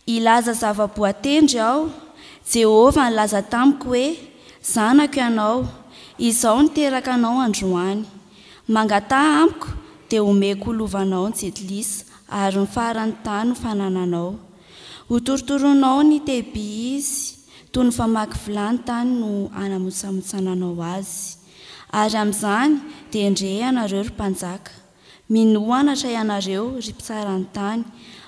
Hilaza zava-boatendry aho, Jehovah nilaza tamiko hoe, Zanako ianao, izaho niteraka anao androany. Mangataha amiko, dia homeko ho lovanao ny jetilisa, ary ny faran'ny tany ho fanananao. Hotorotoroinao ny tehiby izy, toy ny famaky vilany tany no hanamontsamotsananao azy. Ary amin'izany, dia endrehe ianareo, ry mpanjaka! Mino anatra ianareo, ry mpitsara ny tany,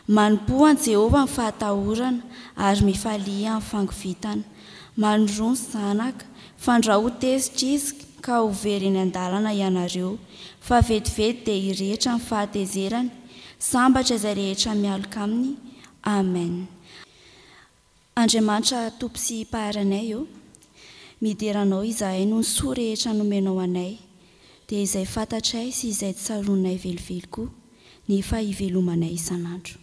manompoa an'i Jehovah amin'ny fahatahorana, ary mifalia amin'ny fangovitana. Manoroa ny zanaka, fandrao ho tezitra izy, ka ho very eny an-dalana ianareo, fa vetivety dia hirehitra amin'ny fahatezerany, sambatra izay rehetra mialoka aminy. Amen. Andriamanitra Tompo sy Mpaharinay ô, midera Anao izahay noho ny soa rehetra nomenao anay, dia izay fantatray sy izay tsaroanay velively koa nefa hivelomanay isan'andro.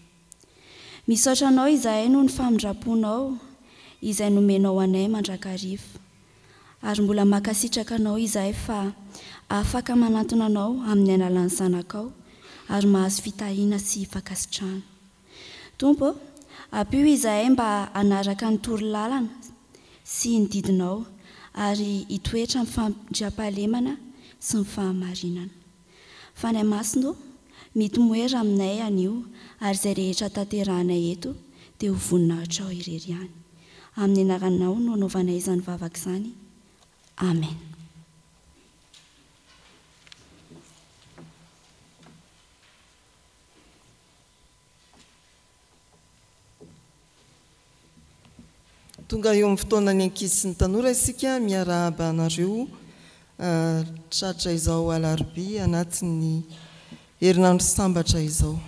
Misaotra Anao izahay noho ny famindram-ponao izay nomenao anay mandrakariva, ary mbola mankasitraka Anao izahay fa afaka manantona Anao amin'ny alalan'ny Zanakao ary mahazo fitahiana sy fankasitrahana. Tompo ô, ampio izahay mba hanaraka ny toro lalana sy ny didinao ary hitoetra amin'ny fandriampahalemana sy ny fahamarinana. Fanahy Masina ô, mitomoera aminay anio ary izay rehetra tanterahanay eto dia ho voninahitrao irery ihany. Amin'ny anaranao no anaovanay izany vavaka izany. Amen. Tonga eo amin'ny fotoanan'ny ankizy sy ny tanora isika miarahaba anareo tratra izao alarobia anatin'ny herinandro sambatra izao.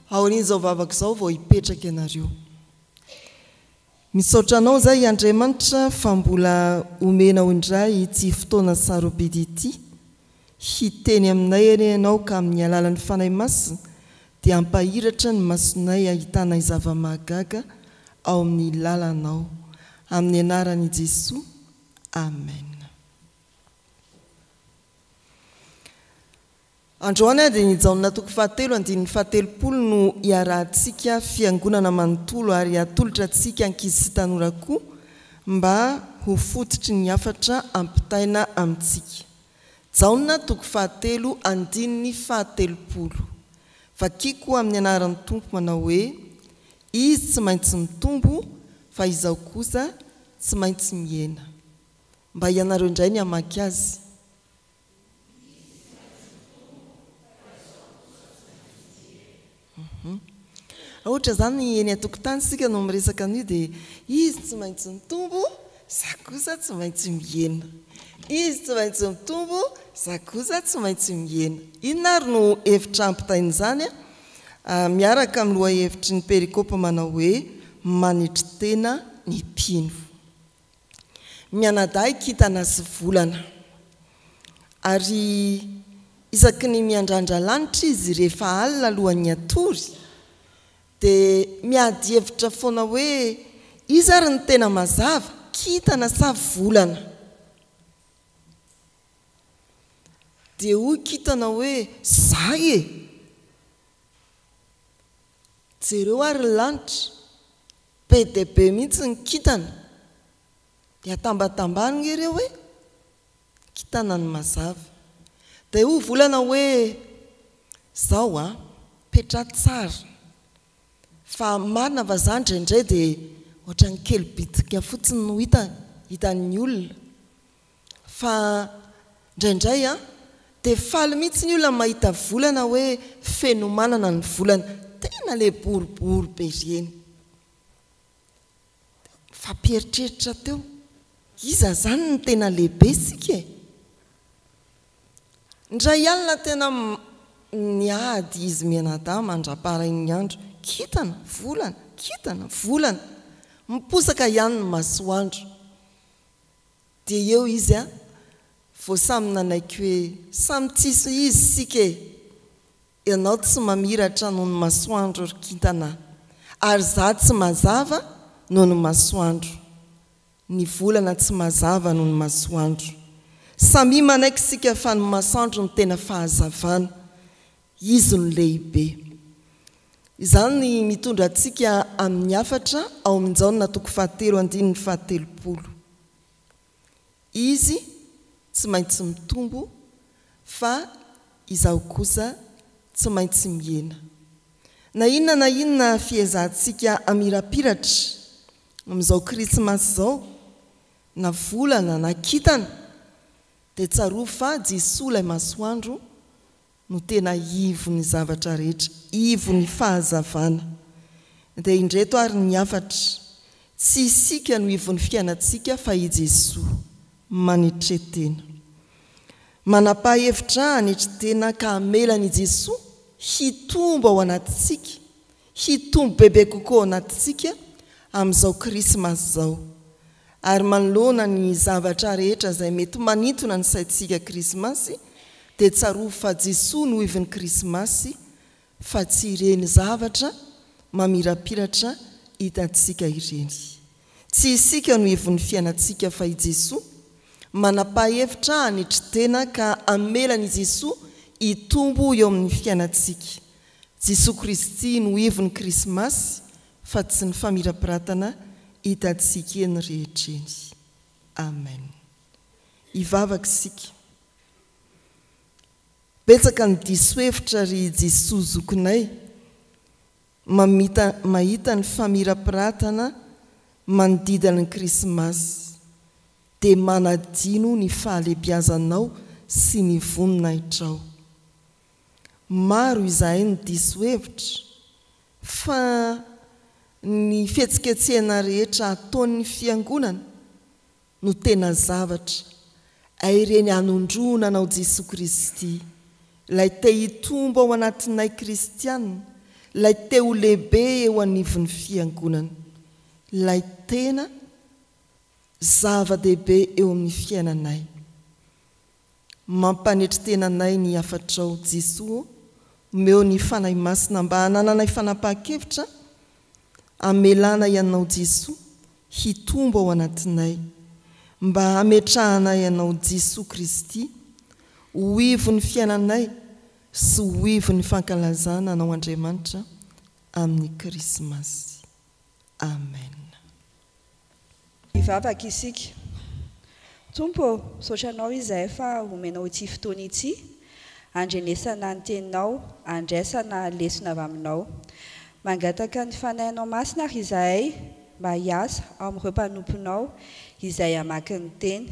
Aorian'izao vavaka izao vao hipetraka ianareo. Misaotra anao izay Andriamanitra fa mbola omenao indray ity fotoana sarobidy ity, hiteny aminay anie ianao ka amin'ny alalan'ny Fanahy Masina dia hampahiratra ny masonay hahitanay zava-mahagaga ao amin'ny lalanao. Amin'ny anaran' i Jesoa, Amen. Androany dia ny Jaona toko fahatelo andininy fahatelopolo no hiarahantsika fiangonana manontolo ary hatolotra antsika ankizy sy tanora koa mba ho fototry ny hafatra ampitaina amintsika. Jaona toko fahatelo andininy fahatelopolo. Vakiko amin'ny anaran'ny Tompo manao hoe, Izy tsy maintsy mitombo fa izaho kosa tsy maintsy mihena. Mba ianareo indray ny hamaky azy. Ohatra izany eny an-tokotany isika no miresaka an'io dia izy tsy maintsy mitombo, za kosa tsy maintsy mihena. Izy tsy maintsy mitombo, za kosa tsy maintsy mihena. Inona ary no hevitra ampitain'izany? Miaraka amin'ny lohahevitry ny perikopa manao hoe manetry tena ny mpino. mianadahy kintana sy volana. Ary isaky ny miandrandra lanitra izy rehefa alina alohan'ny hatory dia miady hevitra foana hoe iza ary no tena mazava, kintana sa volana? Dia hoy kintana hoe za e! Jereo ary ny lanitra. Be dia be mihitsy ny kintana. Dia atambatambany nge ireo hoe, kintana ny mazava. Dia hoy volana hoe, zao a, petraho tsara, fa marina fa za indraindray dia ohatran'ny kely bitika fotsiny no hitany, hitan'ny olona. Fa ndraindray an, dia faly mihitsy ny olona mahita volana hoe fenomanana ny volana, tena ilay boribory be ireny. Nifampieritreritra teo, iza izany no tena lehibe isika e? Indray alina tena niady izy mianadahy mandra-paharain'ny andro, kintana, volana, kintana, volana, miposaka ihany ny masoandro. Dia eo izy an! vao samy nanaiky hoe samy tsisy izy isika e! Ianao tsy mamiratra noho ny masoandro ry kintana a! Ary za tsy mazava noho ny masoandro! Ny volana tsy mazava noho ny masoandro! Samia manaiky isika fa ny masandro no tena fahazavana! Izy no lehibe. Izany mitondra antsika amin'ny hafatra ao amin'ny Jaona toko fahatelo andininy fahatelopolo. Izy tsy maintsy mitombo fa izaho kosa tsy maintsy mihena. Na inona na inona fiezahantsika hamirapiratra amin'izao Krismasy izao, na volana na kintana, dia tsarovy fa Jesoa ilay masoandro no tena ivon'ny zavatra rehetra, ivon'ny fahazavana. Dia indreto ary ny hafatra, tsy isika no ivon'ny fiainantsika fa i Jesoa. Manetre-tena. Manapa-hevitra hanetry tena ka hamela an'i Jesoa hitombo ao anatintsika Hitombo bebe kokoa ao anatintsika amin'izao Krismasy izao. Ary manoloana ny zavatra rehetra izay mety manintona ny saintsika Krismasy dia tsarovy fa Jesoa no ivin'ny Krismasy fa tsy ireny zavatra mamirapiratra hitantsika ireny. Tsy isika no ivon'ny fiainantsika fa i Jesoa. Manapa-hevitra hanetry tena ka hamelan'i Jesoa hitombo eo amin'ny fiainantsika Jesoa Kristy no hevon'ny Krismasy fa tsy ny famirapiratana hitantsika eny rehetra eny. Amen. Hivavaka isika. Betsaka ny diso hevitra ry Jesoa zokinay mamita mahita ny famirapiratana manodidina ny Krismasy dia manadino ny fahalebiazanao sy ny voninahitrao. Maro izahay no diso hevitra fa ny fihetsiketsehana rehetra ataon'ny fiangonana no tena zavatra, ay ireny hanondroana anao Jesoa Kristy, ilay te hitombo ao anatinay kristiana, ilay te ho lehibe eo anivon'ny fiangonana, ilay tena zava-dehibe eo amin'ny fiainanay. Mampanetry tena anay ny hafatrao Jesoa ô, omeo ny Fanahy Masina mba hanananay fanapahan-kevitra hamelanay Anao Jesoa hitombo ao anatinay, mba hametrahanay Anao Jesoa Kristy ho ivon'ny fiainanay sy ho ivon'ny fankalazana Anao Andriamanitra amin'ny Krismasy. Amen. Hivavaka isika. Tompo ô, misaotra Anao izahay fa omenao ity fotoana ity, handrenesana ny Teninao, handraisana lesona avy Aminao. Mangataka ny Fanahinao Masina àry izahay mba hiasa ao amin'ireo mpanomponao izay hamaky ny Teny.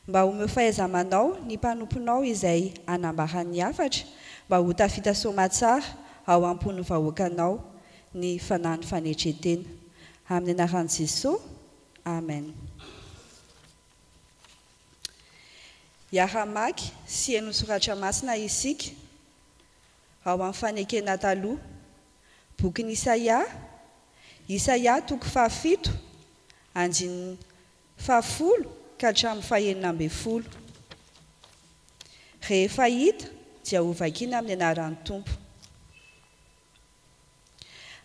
Mba omeo fahaiza-manao ny mpanomponao izay hanambara ny hafatra mba ho tafita soamatsara ao am-pon'ny vahoakanao. ny fanahin'ny fanetren-tena. Amin'ny anaran'i Jesosy, amen. Hiara-hamaky sy hihaino ny soratra masina isika ao amin'ny Fanekena Taloha, bokin'i Isaia, Isaia toko fahafito, andininy fahafolo ka hatramin'ny fahenina ambin'ny folo. Rehefa hita dia hovakina amin'ny anaran'ny Tompo.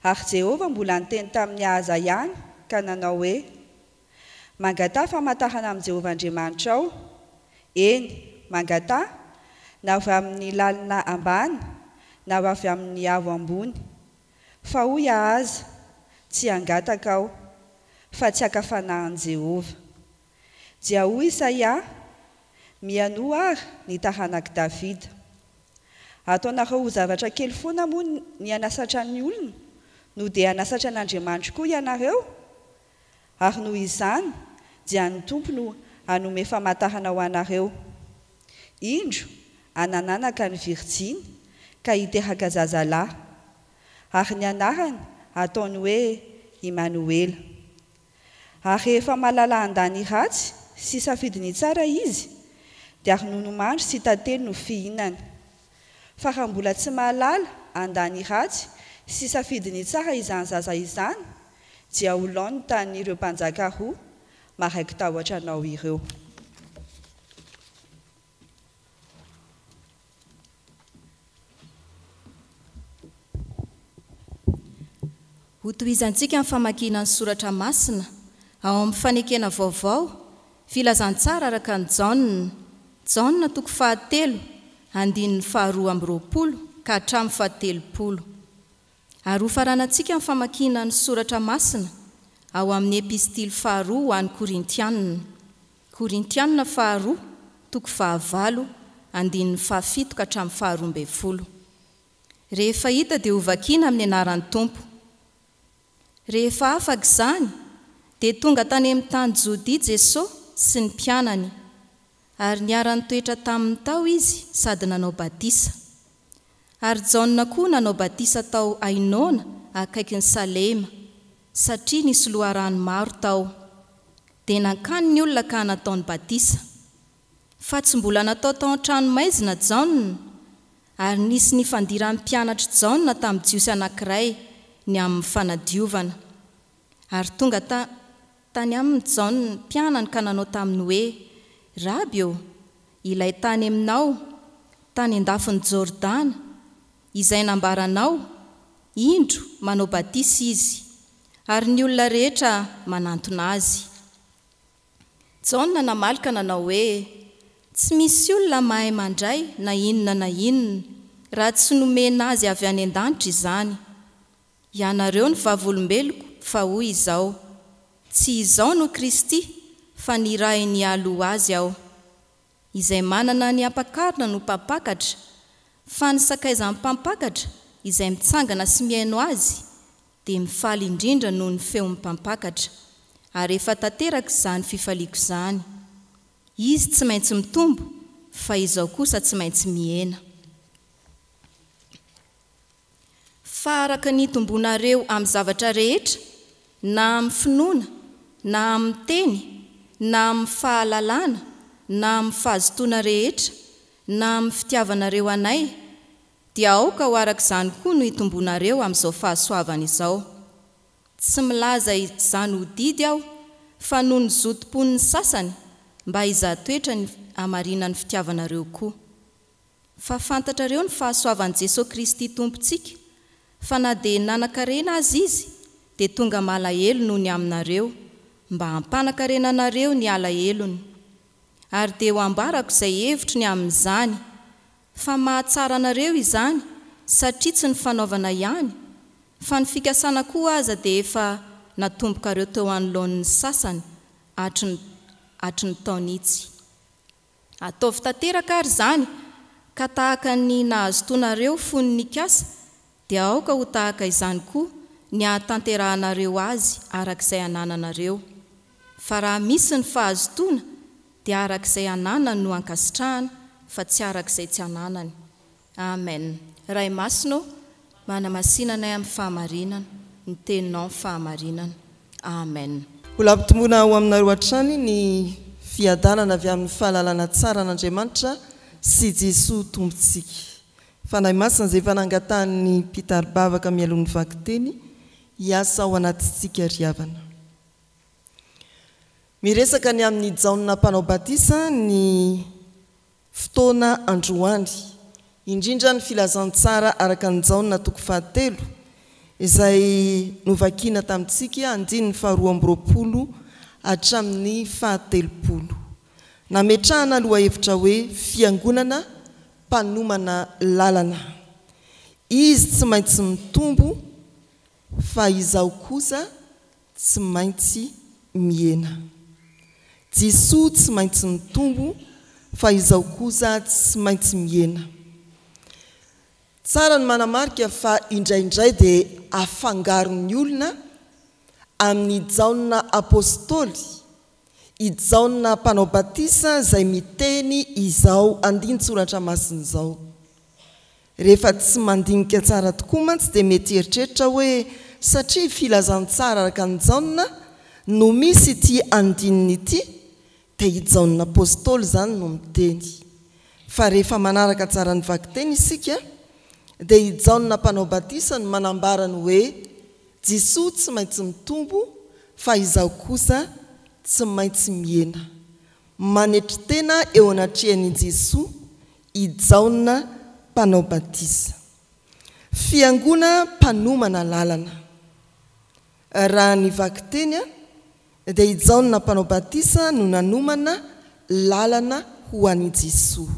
Ary Jehovah mbola niteny tamin'i Ahaza ihany ka nanao hoe, Mangataha famantarana amin'i Jehovah Andriamanitrao, eny, mangataha, na avy amin'ny lalina ambany na avy amin'ny avo ambony. Fa hoy Ahaza, Tsy hangataka aho, fa tsy haka fanahin'i Jehovah. Dia hoy Isaia, Mihainoa àry, ny taranak'i Davida. Ataonareo ho zavatra kely foana moa ny hanasatran'ny olona, no dia hanasatra an'Andriamanitro koa ianareo? Ary noho izany dia ny Tompo no hanome famantarana ho anareo, Indro, hanananaka ny virjiny, ka hiteraka zazalahy, ary ny anarany hataony hoe Imanoela. Ary rehefa mahalala handà ny ratsy sy hisafidy ny tsara izy, dia ronono mandry sy tantely no fihinany. Fa raha mbola tsy mahalala handà ny ratsy sy hisafidy ny tsara izany zaza izany, dia ho laoniny tamin'ireo mpanjaka roa maraiki-tahotra anao ireo. Hotohizantsika ny famakiana ny soratra masina ao amin'ny Fanekena Vaovao, Filazantsara araka an'i Jaona, Jaona toko fahatelo, andininy faharoa amby roapolo ka hatramin'ny fahatelopolo. Ary hofaranantsika ny famakiana ny soratra masina ao amin'ny Epistily faharoa ho an'ny Korintianina, Korintianina faharoa, toko fahavalo, andininy fahafito ka hatramin'ny faharoa ambin'ny folo. Rehefa hita dia hovakiana amin'ny anaran'ny Tompo. Rehefa afaka izany, dia tonga tany amin'ny tany Jodia Jeso sy ny mpianany. ary niara-nitoetra taminy tao izy sady nanao batisa. Ary Jaona koa nanao batisa tao Ainona akaikin'i Salema, satria nisy loharano maro tao. Dia nankany ny olona ka nataony batisa. Fa tsy mbola natao tao an-tranomaizina Jaona, ary nisy nifandiran'ny mpianatr'i Jaona tamin'ny Jiosy anankiray ny amin'ny fanadiovana, ary tonga ta. Tany aminy Jaona mpianany ka nanao taminy hoe, Raby ô, ilay tany aminao, tany an-dafin'i Jordana, izay nambaranao, Indro, manao batisa izy, ary ny olona rehetra manantona azy. Jaona namaly ka nanao hoe, Tsy misy olona mahay mandray na inona na inona, raha tsy nomena azy avy any an-danitra izany. Ianareo ny vavolombeloko, fa hoy izao, Tsy izao no Kristy, fa nirahiny hialy ho azy aho. Izay manana ny ampakarina no mpampakatra, fa ny sakaizan'ny mpampakatra izay mitsangana sy mihaino azy, dia mifaly indrindra noho ny feon'ny mpampakatra, ary efa tanteraka izany fifaliako izany. Izy tsy maintsy mitombo, fa izao kosa tsy maintsy mihena. Fa araka ny itombonareo amin'ny zavatra rehetra, na amin'ny finoana, na amin'ny teny, na amin'ny fahalalana, na amin'ny fahazotoana rehetra, na amin'ny fitiavanareo anay, dia aoka ho araka izany koa no itombonareo amin'izao fahasoavana izao. Tsy milaza izany ho didy aho, fa noho ny zotom-pon'ny sasany, mba hizaha toetra ny hamarinan'ny fitiavanareo koa. Fa fantatrareo ny fahasoavan'i Jesoa Kristy Tompontsika, fa na dia nanan-karena aza Izy, dia tonga malahelo noho ny aminareo, mba hampanankarena anareo ny alahelony. Ary dia ho ambarako izay hevitro ny amin'izany, fa mahatsara anareo izany, satria tsy ny fanaovana ihany, fa ny fikasana koa aza dia efa natombokareo teo anoloan'ny sasany hatry ny hatry ny taonitsy. Ataovy tanteraka ary izany, ka tahaka ny nahazotoanareo fony nikasa, dia aoka ho tahaka izany koa ny hahatanterahanareo azy araka izay anananareo. Fa raha misy ny fahazotoana, dia araka izay ananany no ankasitrahana, fa tsy araka izay tsy ananany. Amen Ray Masina ô manamasina anay amin'ny fahamarinana ny teninao ny fahamarinana Amen. Mbola ampitomboina ho aminareo hatrany ny fiadanana avy amin'ny fahalalana tsara an'Andriamanitra sy Jesoa Tompontsika. Fanahy Masina izay efa nangatahan'ny mpitari-bavaka mialoha ny vakiteny hiasa ao anatintsika ry havana. Miresaka ny amin'i Jaona Mpanao Batisa ny Fotoana androany, indrindra ny Filazantsara araka an'i Jaona toko fahatelo, izay novakina tamintsika, andininy faharoa amby roapolo hatramin'ny fahatelopolo. Nametrahana lohahevitra hoe Fiangonana mpanomana lalana. Izy tsy maintsy mitombo, fa izaho kosa, tsy maintsy mihena. Jesoa tsy maintsy mitombo fa izao kosa tsy maintsy mihena. Tsara ny manamarika fa indraindray dia afangaron'ny olona amin'i Jaona Apostoly, i Jaona Mpanao Batisa izay miteny izao andinin-tsoratra masina izao. Rehefa tsy mandinika tsara tokoa mantsy dia mety hieritreritra hoe satria filazantsara araka an'i Jaona no misy ity andininy ity dia i Jaona Apostoly izany no miteny. Fa rehefa manaraka tsara ny vakiteny isika dia i Jaona Mpanao Batisa no manambara ny hoe Jisoa tsy maintsy mitombo fa izaho kosa tsy maintsy mihena. Manetry tena eo anatrehan'i Jisoa i Jaona Mpanao Batisa, fiangona mpanomana lalana. Raha ny vakiteny dia i Jaona Mpanao Batisa no nanomana lalana ho an'i Jesoa.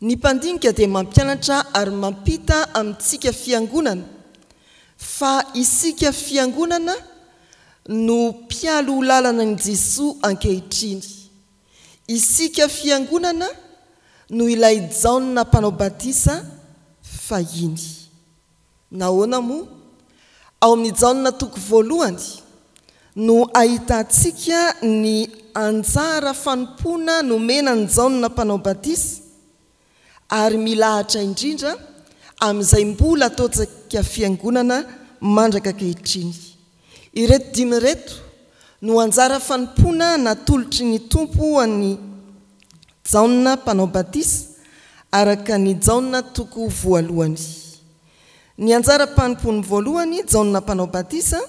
Ny mpandinika dia mampianatra ary mampita amintsika fiangonana fa isika fiangonana no mpialoha lalana an'i Jesoa ankehitriny. Isika fiangonana no ilay Jaona Mpanao Batisa fahiny. Nahoana moa? Ao amin'ny Jaona toko voalohany no ahitantsika ny anjara fanompoana nomena an'i Jaona Mpanao Batisa ary milahatra indrindra amin'izay mbola ataontsika fiangonana mandraka ankehitriny. Ireto dimy ireto no anjara fanompoana natolotry ny Tompo ho an'i Jaona Mpanao Batisa araka ny Jaona toko voalohany. Ny anjaram-panompoany voalohany, Jaona Mpanao Batisa,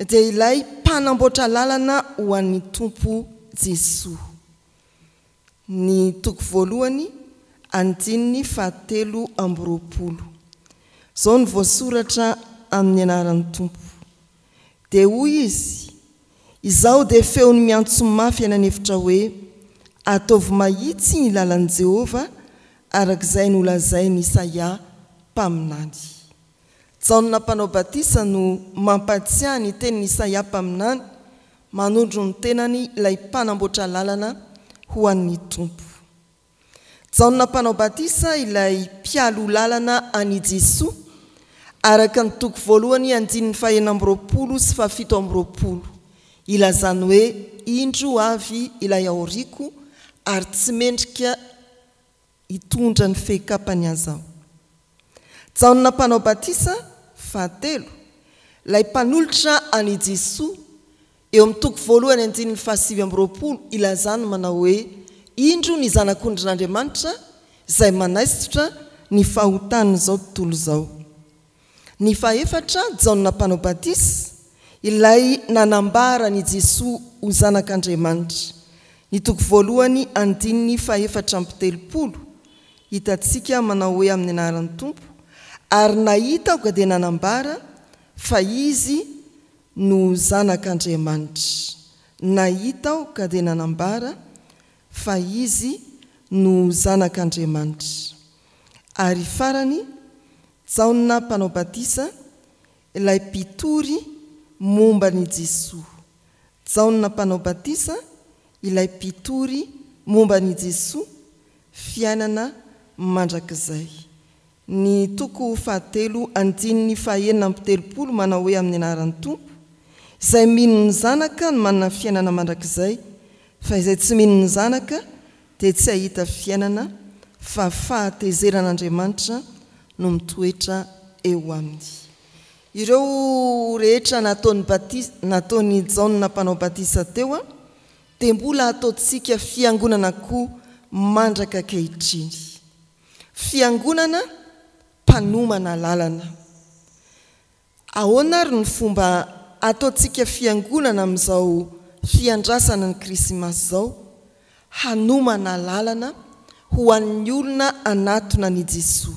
dia ilay mpanamboatra lalana ho an'ny Tompo Jesoa. ny toko voalohany andininy fahatelo amby roapolo. Izao no voasoratra amin'ny anaran'ny Tompo. Dia hoy Izy, Izaho dia feony miantso mafy any an'efitra hoe, Ataovy mahitsy ny lalan'i Jehovah, araka izay nolazain'i Isaia mpaminany. Jaona Mpanao Batisa no mampahatsiahy ny tenin'i Isaia mpaminany, Manondro ny tenany ilay mpanamboatra lalana ho an'ny Tompo. Jaona Mpanao Batisa ilay mpialoha lalana an'i Jesoa, araka ny toko voalohany andininy fahenina amby roapolo sy fahafito amby roapolo, ilazany hoe, Indro avy ilay aoriako, ary tsy mendrika hitondra ny fehikapany aza aho. Jaona Mpanao Batisa, fahatelo, ilay mpanolotra an'i Jesoa, eo amin'ny toko voalohany andininy fahasivy amby roapolo ilazany manao hoe, Indro ny Zanak'ondrin'Andriamanitra izay manaisotra ny fahotan'izao tontolo izao. Ny fahefatra, Jaona Mpanao Batisa, ilay nanambara an'i Jesoa ho Zanak'Andriamanitra, ny toko voalohany andininy fahefatra amby telopolo, hitantsika manao hoe amin'ny anaran'ny Tompo, ary nahita aoka dia nanambara fa Izy no Zanak'Andriamanitra, nahita aoka dia nanambara fa Izy no Zanak'Andriamanitra, ary farany, Jaona Mpanao Batisa, ilay mpitory momba an'i Jesoa. Jaona Mpanao Batisa, ilay mpitory momba an'i Jesoa, fiainana mandrakizay. Ny toko fahatelo andininy fahenina amby telopolo manao hoe amin'ny anaran'ny Tompo, izay mino ny Zanaka no manana fiainana mandrakizay, fa izay tsy mino ny Zanaka dia tsy hahita fiainana, fa fahatezeran'Andriamanitra no mitoetra eo aminy. Ireo rehetra nataony batisa, nataon'i Jaona Mpanao Batisa teo, dia mbola hataontsika fiangonana koa mandraka ankehitriny. Fiangonana mpanomana lalana. Ahoana ary ny fomba ataontsika fiangonana amin'izao fiandrasana ny Krisimasy izao hanomana lalana ho an'ny olona hanatona an'i Jesoa?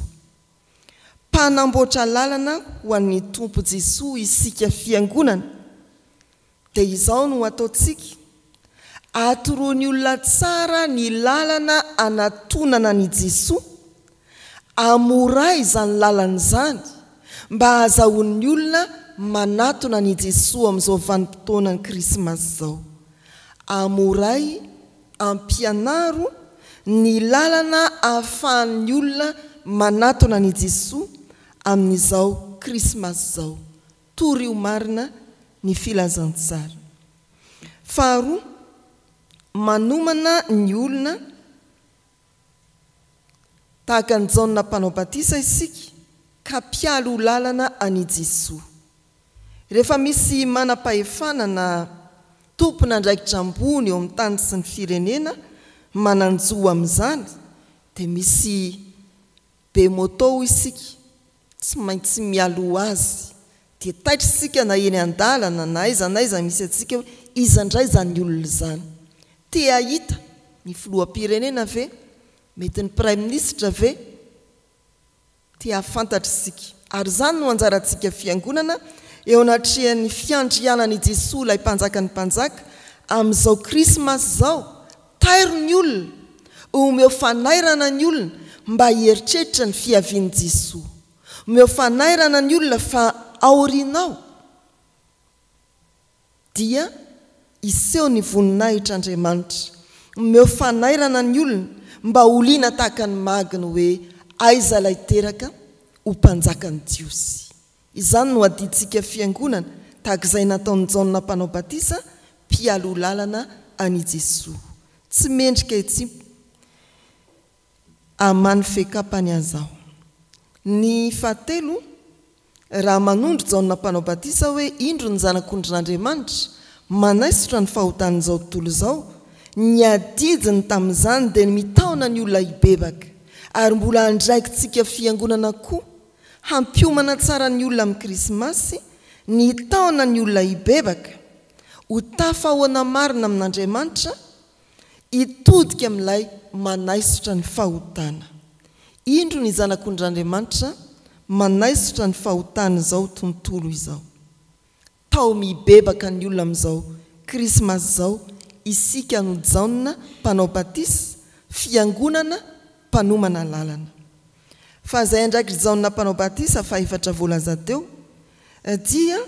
Mpanamboatra lalana ho an'ny Tompo Jesoa isika fiangonana. Dia izao no ataontsika, atoroan'ny olona tsara ny lalana anatonana an'i Jesoa, amoray izany lalana izany mba hahazahoan'ny olona manatona an'i Jesoa amin'izao vanim-potoanan'ny Krismasy izao. Amoray, ampianaro, ny lalana ahafahan'ny olona manatona an'i Jesoa amin'izao Krismasy izao. Torio marina ny filazantsara. Faharoa, manomana ny olona tahaka an'i Jaona Mpanao Batisa isika ka mpialy ho lalana an'i Jesoa. Rehefa misy manam-pahefana na tompon'andraikitra ambony eo amin'ny tany sy ny firenena manan-jo amin'izany dia misy be moto isika. Tsy maintsy mialoha azy dia taitra isika na eny an-dalana na aiza na aiza misy antsika hoe iza indray izany olona izany? Te hahita ny filoham-pirenena ve? Mety ny praiminisitra ve? Te hahafantatra isika. Ary izany no anjarantsika fiangonana eo anatrehan'ny fiandrianan'i Jesoa ilay Mpanjakan'ny mpanjaka amin'izao krismasy izao Tairo ny olona, omeo fanairana ny olona mba hieritreritra ny fiavian'i Jesoa. Omeo fanairana ny olona fa aorianao dia hiseho ny voninahitr' Andriamanitra. Omeo fanairana ny olona mba ho liana tahaka ny magy ny hoe aiza ilay teraka ho mpanjakan'ny Jiosy. Izany no adidintsika fiangonana, tahaka izay nataon'i Jaona Mpanao Batisa, mpialoha lalana an'i Jesoa. Tsy mendrika hitsimp aman'ny fekapany aza aho. Ny fahatelo, raha manondro Jaona Mpanao Batisa hoe indro ny Zanak'ondrin'Andriamanitra, manaisotra ny fahotan'izao tontolo izao, ny adidiny tamin'izany dia ny mitaona ny olona hibebaka, ary mbola andraikitsika fiangonana koa Hampiomana tsara ny olona amin'ny Krismasy ny taona ny olona hibebaka, ho tafahoana marina amin'Andriamanitra, hitodika amin'ilay manaisotra ny fahotana. Indro ny Zanak'ondrin'Andriamanitra manaisotra ny fahotan'izao tontolo izao. Tao mibebaka ny olona amin'izao krismasy izao isika no Jaona mpanao batisa, fiangonana mpanomana lalana. Fa izay andraikitry Jaona mpanao batisa fahefatra voalaza teo dia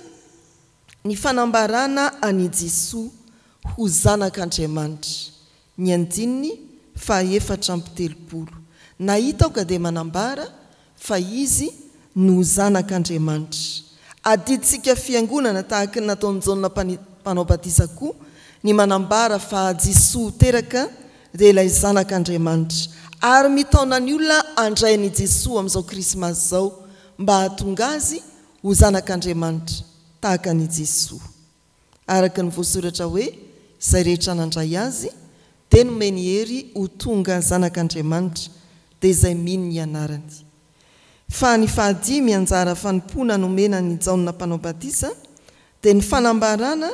ny fanambarana an'i Jesoa ho zanak'Andriamanitra, Ny andininy fahaefatra amby telopolo. Nahita aho ka dia manambara fa izy no zanak' Andriamanitra. Adidintsika fiangonana tahaka ny nataon'i Jaona Mpanao batisa koa ny manambara fa Jesoa teraka dia ilay zanak' Andriamanitra ary mitaona ny olona handray an' i Jesoa amin'izao krismasy izao mba hahatonga azy ho zanak' Andriamanitra tahaka an' i Jesoa. araka ny voasoratra hoe, Izay rehetra nandray Azy, dia nomeny hery ho tonga zanak'Andriamanitra, dia izay mino ny anarany. Fa ny fahadimy anjara fanompoana nomena an'i Jaona Mpanao Batisa dia ny fanambarana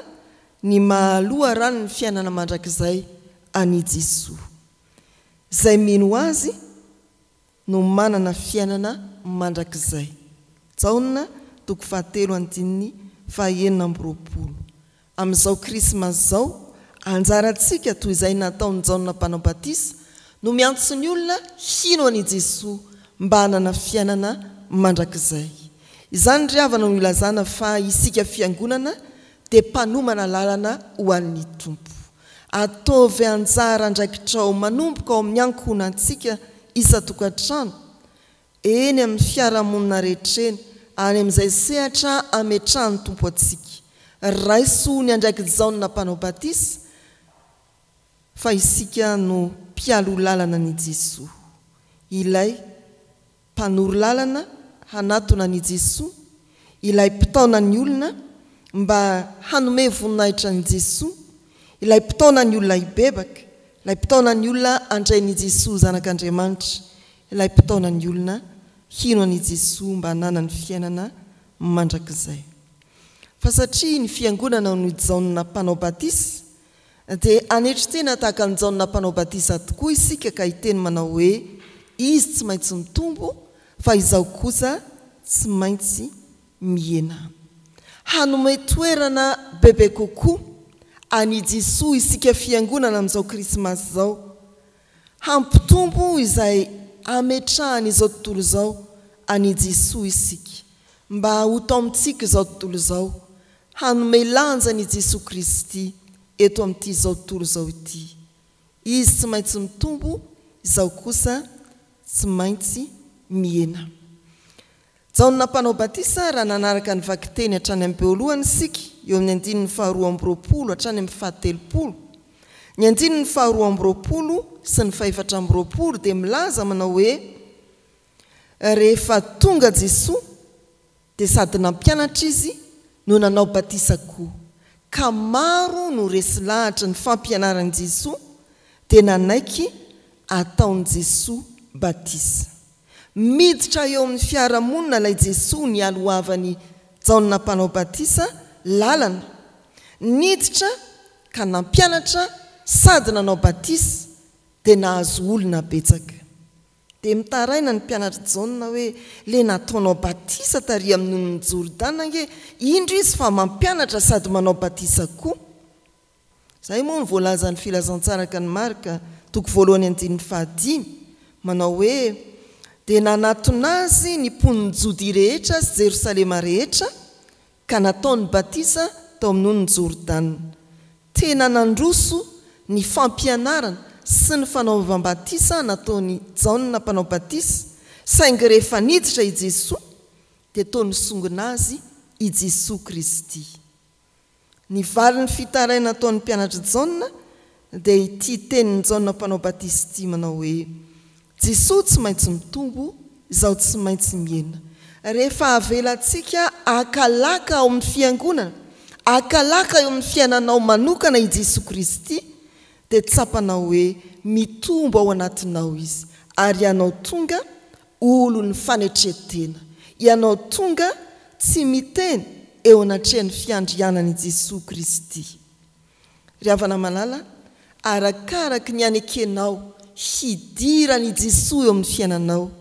ny maha loharanon'ny fiainana mandrakizay an'i Jesoa. Izay mino Azy, no manana fiainana mandrakizay. Jaona toko fahatelo andininy fahaenina amby roapolo. Amin'izao Krismasy izao, anjarantsika, toy izay nataon'i Jaona Mpanao Batisa, no miantso ny olona hino an'i Jesoa mba hanana fiainana mandrakizay. Izany ry havana no ilazana fa isika Fiangonana dia mpanomana lalana ho an'ny Tompo. Ataovy anjara andraikitrao manomboka ao amin'ny ankohonantsika isan-tokantrano, eny amin'ny fiarahamonina rehetra eny, any amin'izay sehatra ametrahan'ny Tompo antsika. Raiso ny andraik'i Jaona Mpanao Batisa fa isika no mpialoha lalana an'i Jesoa, ilay mpanoro lalana hanatona an'i Jesoa, ilay mpitaona ny olona mba hanome voninahitra an'i Jesoa, ilay mpitaona ny olona hibebaka, ilay mpitaona ny olona handray an'i Jesoa ho Zanak'Andriamanitra, ilay mpitaona ny olona hino an'i Jesoa mba hananany fiainana mandrakizay. Fa satria ny Fiangonana no Jaona Mpanao Batisa, Dia hanetry tena tahaka an'i Jaona Mpanao Batisa tokoa isika ka hiteny manao hoe, Izy tsy maintsy mitombo, fa izaho kosa tsy maintsy mihena. Hanome toerana bebe kokoa an'i Jesoa isika Fiangonana amin'izao Krismasy izao, Hampitombo izay hametrahany izao tontolo izao an'i Jesoa isika, mba ho tao amintsika izao tontolo izao, hanome lanja an'i Jesoa Kristy eto amin'ity izao tontolo izao ity. Izy tsy maintsy mitombo, izaho kosa tsy maintsy mihena. Jaona Mpanao Batisa, raha nanaraka ny vakiteny hatrany amin'ny beoalohany isika, eo amin'ny andininy faharoa amby roapolo hatrany amin'ny fahatelopolo. Ny andininy faharoa amby roapolo sy ny fahefatra amby roapolo dia milaza manao hoe, Rehefa tonga Jesoa, dia sady nampianatra Izy no nanao batisa koa, ka maro no resy lahatra ny fampianaran'i Jesoa dia nanaiky ataon'i Jesoa batisa. Miditra eo amin'ny fiarahamonina ilay Jesoa nialohavan'i Jaona Mpanao Batisa lalana. Niditra ka nampianatra sady nanao batisa, dia nahazo olona betsaka. Dia mitaraina ny mpianatr'i Jaona hoe, Ilay nataonao batisa tary amin'ny nonin'i Jordana ange, indro izy fa mampianatra sady manao batisa koa. Izay moa no voalazan'ny Filazantsaraka ny Marka, toko voalohany andininy fahadimy, manao hoe, Dia nanatona Azy ny mponin'i Jodia rehetra sy Jerosalema rehetra, ka nataony batisa tao amin'ny onin'i Jordana. Tena nandroso ny fampianarana sy ny fanaovam-batisa nataon'i Jaona Mpanao Batisa, saingy rehefa niditra i Jesoa, dia toa nisongona azy i Jesoa Kristy. Ny valin'ny fitaraina ataon'ny mpianatr'i Jaona dia ity tenin'i Jaona Mpanao Batisa ity manao hoe, Jesoa tsy maintsy mitombo, izaho tsy maintsy mihena. Rehefa avelantsika hakalaka ao amin'ny fiangonana, hakalaka eo amin'ny fiainanao manokana i Jesoa Kristy, dia tsapanao hoe mitombo ao anatinao Izy ary ianao tonga Olon'ny fanetren-tena ianao tonga tsy miteny eo anatrehan'ny fiandrianan'i Jesoa Kristy. Ry havana malala, arakaraky ny anekenao hidiran'i Jesoa eo amin'ny fiainanao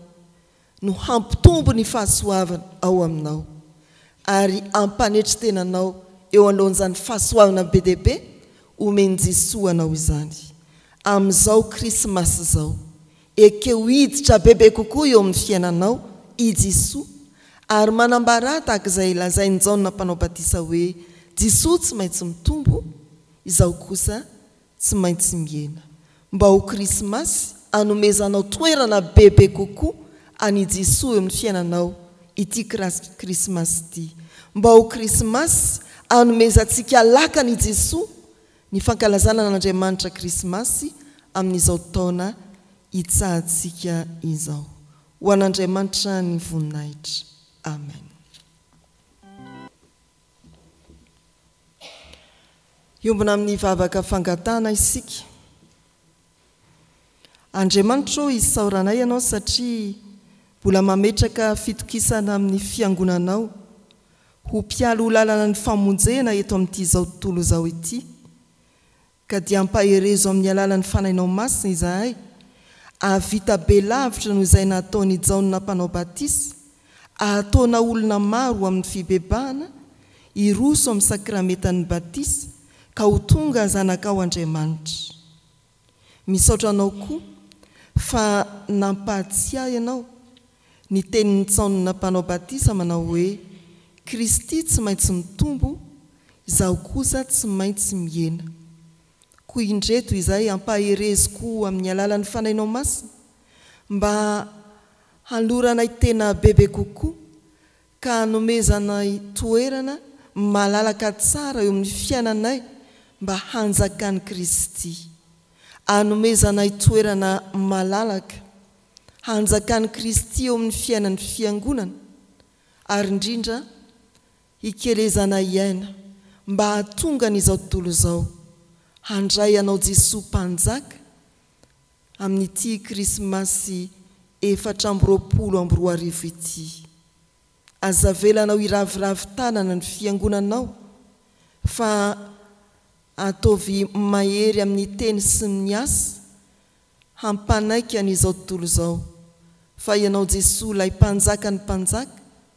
no hampitombo ny fahasoavana ao aminao ary ampanetri-tena anao eo anoloan'izany fahasoavana be dia be omen'i Jesoa anao izany amin'izao Krismasy izao Ekeo hiditra bebe kokoa eo amin'ny fiainanao i Jesoa ary manambara ahy tahaka izay lazain'i Jaona Mpanao Batisa hoe Jesoa tsy maintsy mitombo, izaho kosa tsy maintsy mihena. Mba ho Krismasy hanomezanao toerana bebe kokoa an'i Jesoa eo amin'ny fiainanao ity Krismasy ity. Mba ho Krismasy hanomezantsika lakana i Jesoa Ny fankalazana an'Andriamanitra Krismasy amin'izao taona itsahantsika izao. Ho an'Andriamanitra ny voninahitra. Amen. Hiombona amin'ny vavaka fangatahana isika. Andriamanitra ô, isaoranay Ianao satria mbola mametraka fitokisana amin'ny Fiangonanao ho mpialy ho lalana ny famonjena eto amin'ity izao tontolo izao ity, ka dia ampaherezo amin'ny alalan'ny Fanahinao Masina izahay, hahavita be lavitra noho izay nataon'i Jaona Mpanao Batisa Ahataona olona maro ho amin'ny fibebahana hiroso amin'ny sakramentan'ny batisa ka ho tonga zanakao Andriamanitra. Misaotra anao koa fa nampahatsiahy anao ny tenin'ny Ntaonina Mpanao Batisa manao hoe, Kristy tsy maintsy mitombo, izaho kosa tsy maintsy mihena. Koa indreto izay ampahereziko amin'ny alalan'ny Fanainao Masina mba Haloranay tena bebe kokoa ka hanomezanay toerana malalaka tsara eo amin'ny fiainanay mba hanjakan'i Kristy. Hanomezanay toerana malalaka hanjakan'i Kristy eo amin'ny fiainan'ny Fiangonana ary indrindra hikelezanay aina mba hahatonga an'izao tontolo izao handray anao Jesoa Mpanjaka amin'ity Krismasy efatra amby roapolo amby roa arivo ity. Aza avelanao hiraviravy tanana ny Fiangonanao fa ataovy mahery amin'ny teny sy ny asa hampanaiky an'izao tontolo izao fa Ianao Jesoa ilay Mpanjakan'ny mpanjaka,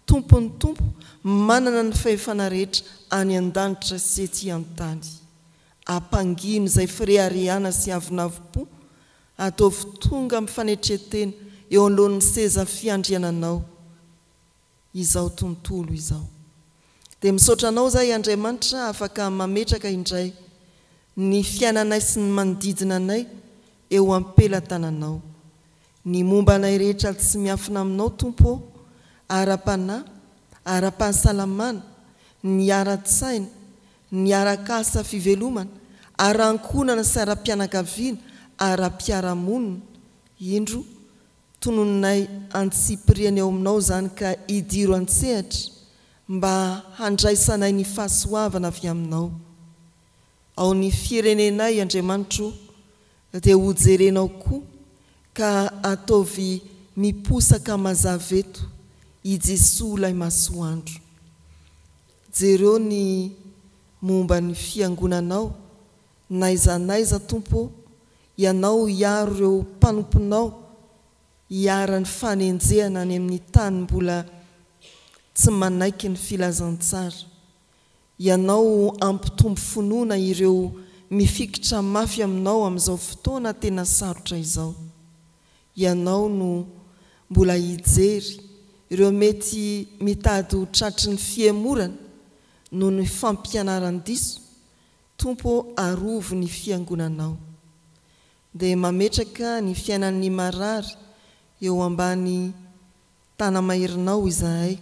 Tompon'ny tompo, manana ny fahefana rehetra any an-danitra sy ety an-tany. Ampangino izay fireharehana sy avonavom-po, ataovy tonga amin'ny fanetren-tena eo anoloan'ny seza fiandriananao izao tontolo izao. Dia misaotra Anao izahay Andriamanitra afaka mametraka indray ny fiainanay sy ny manodidina anay eo am-pelatananao. Ny momba anay rehetra tsy miafina aminao Tompo ô, ara-panahy, ara-pahasalamana, ny ara-tsaina, ny arak'asa fivelomana, ara-ankohonana sy ara-pianakaviana, ara-piarahamonina, indro tononinay antsipiriany eo aminao izany ka idiro an-tsehatra mba handraisanay ny fahasoavana avy aminao ao ny firenenay Andriamanitro ô, Dia ho jerenao koa ka ataovy miposaka mazava eto i Jesoa ilay masoandro. Jereo ny momba ny fiangonanao n'aiza n'aiza Tompo ô, Ianao hiaro ireo mpanomponao hiaran'ny fanenjehana any amin'ny tany mbola tsy manaiky ny filazantsara. Ianao hampitombo finoana ireo mifikitra mafy aminao amin'izao fotoana tena sarotra izao. Ianao no mbola hijery ireo mety mitady ho tratry ny fihemorana noho ny fampianaran-diso, Tompo ô arovy ny fiangonanao. Dia mametraka ny fiainan'ny marary eo ambany Tanamairinao izahay,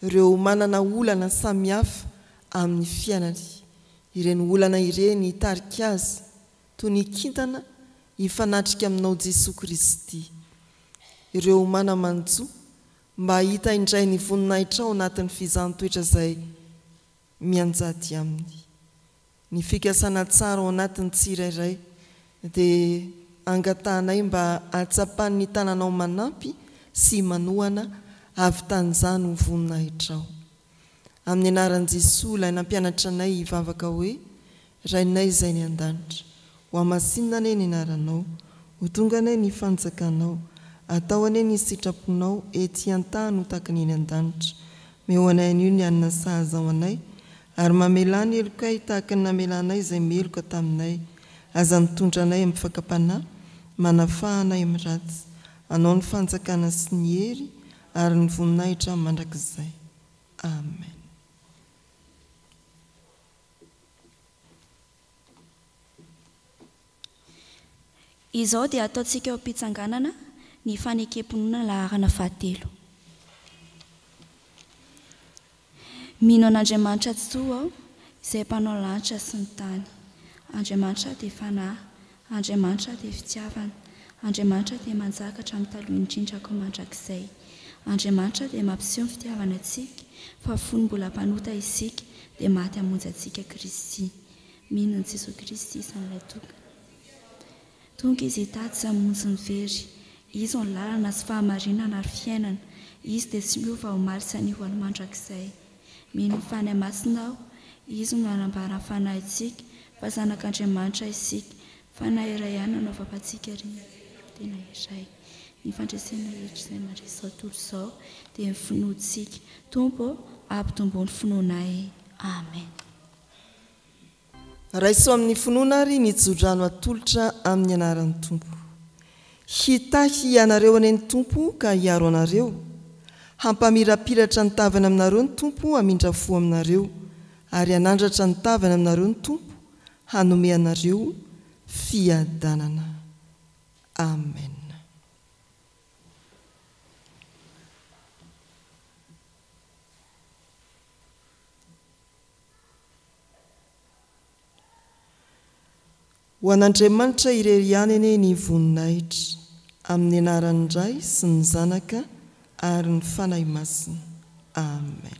ireo manana olana samihafa amin'ny fiainany. Ireny olana ireny hitarika azy, toy ny kintana, hifanatrika aminao Jesoa Kristy. Ireo mana-manjo, mba hahita indray ny voninahitrao anatin'ny fizaham-toetra izay. mianjady aminy. Ny fikasana tsara ao anatin'ny tsirairay dia angatahanay mba hatsapan'ny tananao manampy sy manohana havitan' izany ho voninahitrao. Amin'ny anaran'i Jesoa ilay nampianatra anay hivavaka hoe, Rainay izay any an-danitra. Ho hamasinina anie ny anaranao. Ho tonga anie ny fanjakanao. Atao anie ny sitraponao ety an-tany ho takany eny an-danitra. Meo anay anio ny hanina sahaza ho anay, ary mamelà ny helokay tahaka ny namelanay izay meloka taminay. Aza mitondra anay amin'ny fakam-panahy, manafaha anay amin'ny ratsy. Anao ny fanjakana sy ny hery ary ny voninahitra mandrakizay. Amen. Izao dia ataontsika eo am-pitsanganana ny fanekem-pinoana laharana fahatelo. Mino an'Andriamanitra Tsitoha aho, izay mpanao lanitra sy ny tany. Andriamanitra dia Fanahy, Andriamanitra dia fitiavana. Andriamanitra dia manjaka hatramin'ny taloha indrindra koa mandrakizay. Andriamanitra dia mampiseho ny fitiavany antsika fa fony mbola mpanota isika dia maty hamonjy antsika Kristy. Mino an'i Jesoa Kristy isan'ilay tokana. Tonga Izy hitady sy hamonjy ny very. Izy no lalana sy fahamarinana ary fiainana. Izy dia tsy miova omaly sy anio ho any mandrakizay. Mino fa any masina aho. Izy no anambara ny fanahintsika, fa zanak' Andriamanitra isika. Fanahy iray ihany no anaovapantsika ary tena iray. Ny fandresena hetra izay mandresy izao tontolo izao dia ny finoantsika. Tompo ô, ampitombo ny finoanay. Amen. Raiso amin'ny finoana ary mijo-drano atolotra amin'ny anaran'ny Tompo. Hitahy anareo anie ny Tompo ka hiaro anareo. Hampamirapiratra ny tavany aminareo ny Tompo hamindra fo aminareo, ary hanandratra ny tavany aminareo ny Tompo hanome anareo fiadanana. Amen. Ho an'Andriamanitra irery ihany anie ny voninahitra, amin'ny anaran'ny Ray sy ny Zanaka ary ny Fanahy Masina. Amen.